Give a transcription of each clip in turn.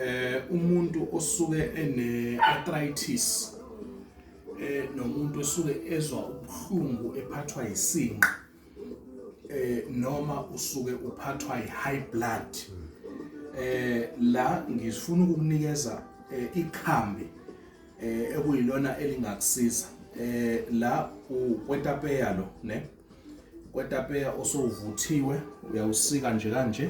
eh umuntu osuke ene arthritis eh nomuntu osuke ezwa ubuhlungu ephathwa isinqa eh noma usuke uphathwa i-high blood eh la ngifuna ukukunikeza eh, ikhambi eh ekuyilona elingakusiza eh la ukwetapeya lo ne kwetapeya osovuthiwe uyawusika nje kanje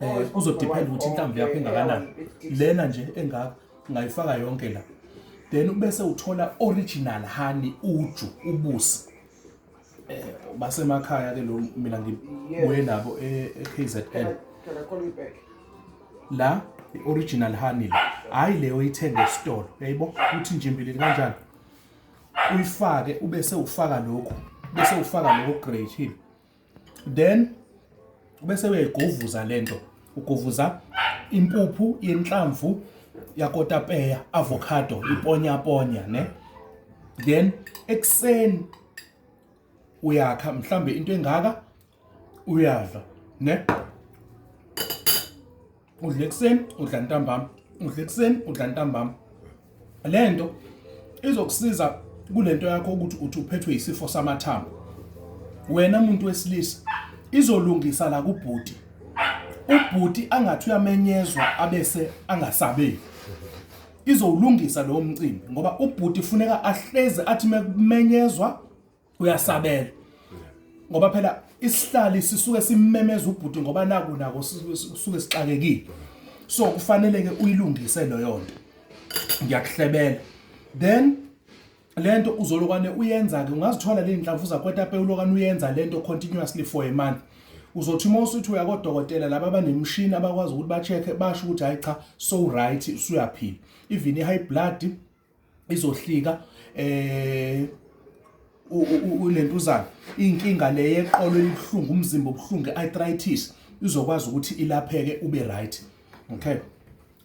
um kuzodependa ukuthi inhlamvu yakho engakanani lena nje engaka ungayifaka yonke la then ubese uthola original honey uju ubusi eh basemakhaya ke lo mina ngibuye nabo eKZN e la ioriginal honey hayi leyo ithenge esitolo yayibo uthi njimbili kanjani uyifake ubese ufaka lokho bese ufaka lokho grade then bese uyayigovuza lento ugovuza impuphu yenhlamvu yakotapeya avocado iponya ponya ne then ekseni uyakha mhlambe into engaka uyadla ne udla ekuseni udla ntambama udla ekuseni udla ntambama le nto izokusiza kule nto yakho ukuthi uthi uphethwe yisifo samathambo wena muntu wesilisa izolungisa la kubhuti ubhuti angathi uyamenyezwa abese angasabeki izowulungisa lowo mcimbi ngoba ubhuti funeka ahleze athi mekumenyezwa uyasabela ngoba phela isihlali sisuke simemeza ubhuti ngoba naku nako sisuke sixakekile so kufanele ke uyilungise leyo nto ngiyakuhlebela then lento uzolokwane uyenza ke ungazithola le nhlamvu zakwetape ulokwane uyenza lento continuously for a month uzothi uma usuthi uya kodokotela laba abanemishini abakwazi ukuthi ba-check-e basho ukuthi hhayi cha so right usuyaphila even i-high blood izohlika eh ulentuzana inkinga le yeqolo elibuhlungu umzimba obuhlungu arthritis izokwazi ukuthi ilapheke ube right okay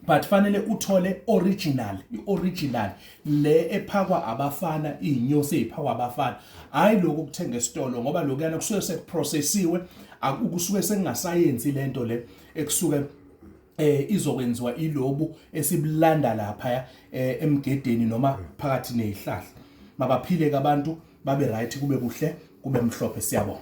but fanele uthole original ioriginal le ephakwa abafana izinyosi eziphakwa abafana hayi lokho ukuthenga esitolo ngoba lokuyana kusuke sekuprocessiwe akusuke sengasayenzi lento le ekusuke eh izokwenziwa ilobu esibulanda lapha eh, emgedeni noma phakathi nezihlahla mabaphile abantu babe right kube kuhle kube mhlophe siyabonga